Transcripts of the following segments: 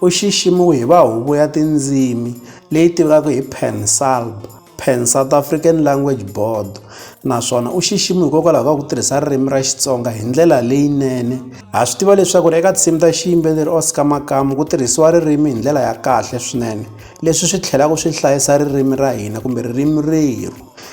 U xiximiwe hi va Huvo ya Tindzimi, leyi tiviwaka hi PanSALB, Pan South African Language Board, naswona u xiximiwe hikokwalaho ka ku tirhisa ririmi ra Xitsonga hi ndlela leyinene. Ha swi tiva leswaku eka tinsimu ta xiyimbeleri Oscar Makamu ku tirhisiwa ririmi hi ndlela ya kahle swinene, leswi swi tlhelaka swi hlayisa ririmi ra hina kumbe ririmi rerhu.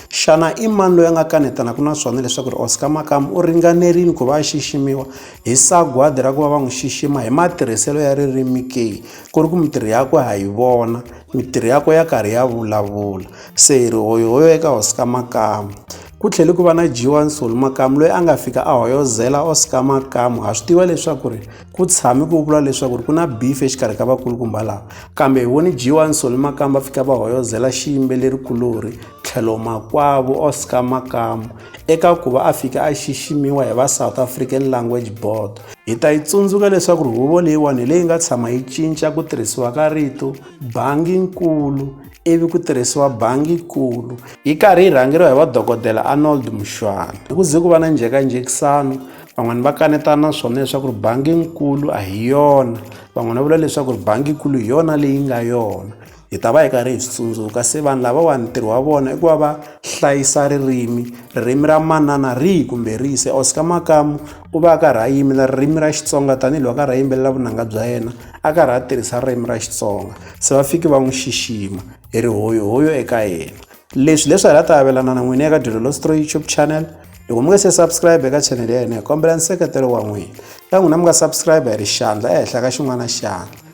Xana i mani loyi a nga kanetanaku na swona leswaku Oscar Makamu u ringanerile ku va a xiximiwa? Hi sagwadi ra ku va va n'wi xixima hi matirhiselo ya ririmi ke ku ri ku mintirho ya ku ha yi vona mintirho ya ku ya karhi ya vulavula se hi ri hoyo hoyo eka hosi ka makamu ku tlhele ku va na dyiwa nsoli makamu loyi a nga fika a hoyozela oscar makamu ha swi tiva leswaku ri ku tshami ku vula leswaku ri ku na beef exikarhi ka vakulukumba laha kambe hi voni dyiwa nsoli makamu va fika va hoyozela xiyimbeleri kulorhi tlhelo makwavo Oscar Makamu eka ku va a fike a xiximiwa hi va South African Language Board. Hi ta yi tsundzuka leswaku ri huvo leyiwani hi leyi nga tshama yi cinca ku tirhisiwa ka rito bangi-nkulu ivi ku tirhisiwa bangi-kulu yi karhi yi rhangeriwa hi vadokodela Arnold Mushwana. Hi ku ze ku va na njhekanjhekisano van'wana va kanetana naswona leswaku ri bangi-nkulu a hi yona van'wana va vula leswaku ri bangi-kulu hi yona leyi nga yona hi ta va hi karhi hi swi tsundzuka se vanhu lavawani ntirho wa vona i ku va va hlayisa ririmi ririmi ra manana rihi kumbe rihi se Oscar Makamu u va a karhi a yimela ririmi ra Xitsonga tanihiloko a karhi a yimbelela vunanga bya yena a karhi a tirhisa ririmi ra Xitsonga se va fiki va n'wi xixima hi ri hoyo hoyo eka yena leswi leswi hi la ta avelana na n'wini eka dyondzo lostro youtube channel loko mi nga se subscribe eka channel ya hina hi kombela nseketelo wa n'wina ta n'wina mi nga subscribe hi ri xandla ehenhla ka xin'wana xandla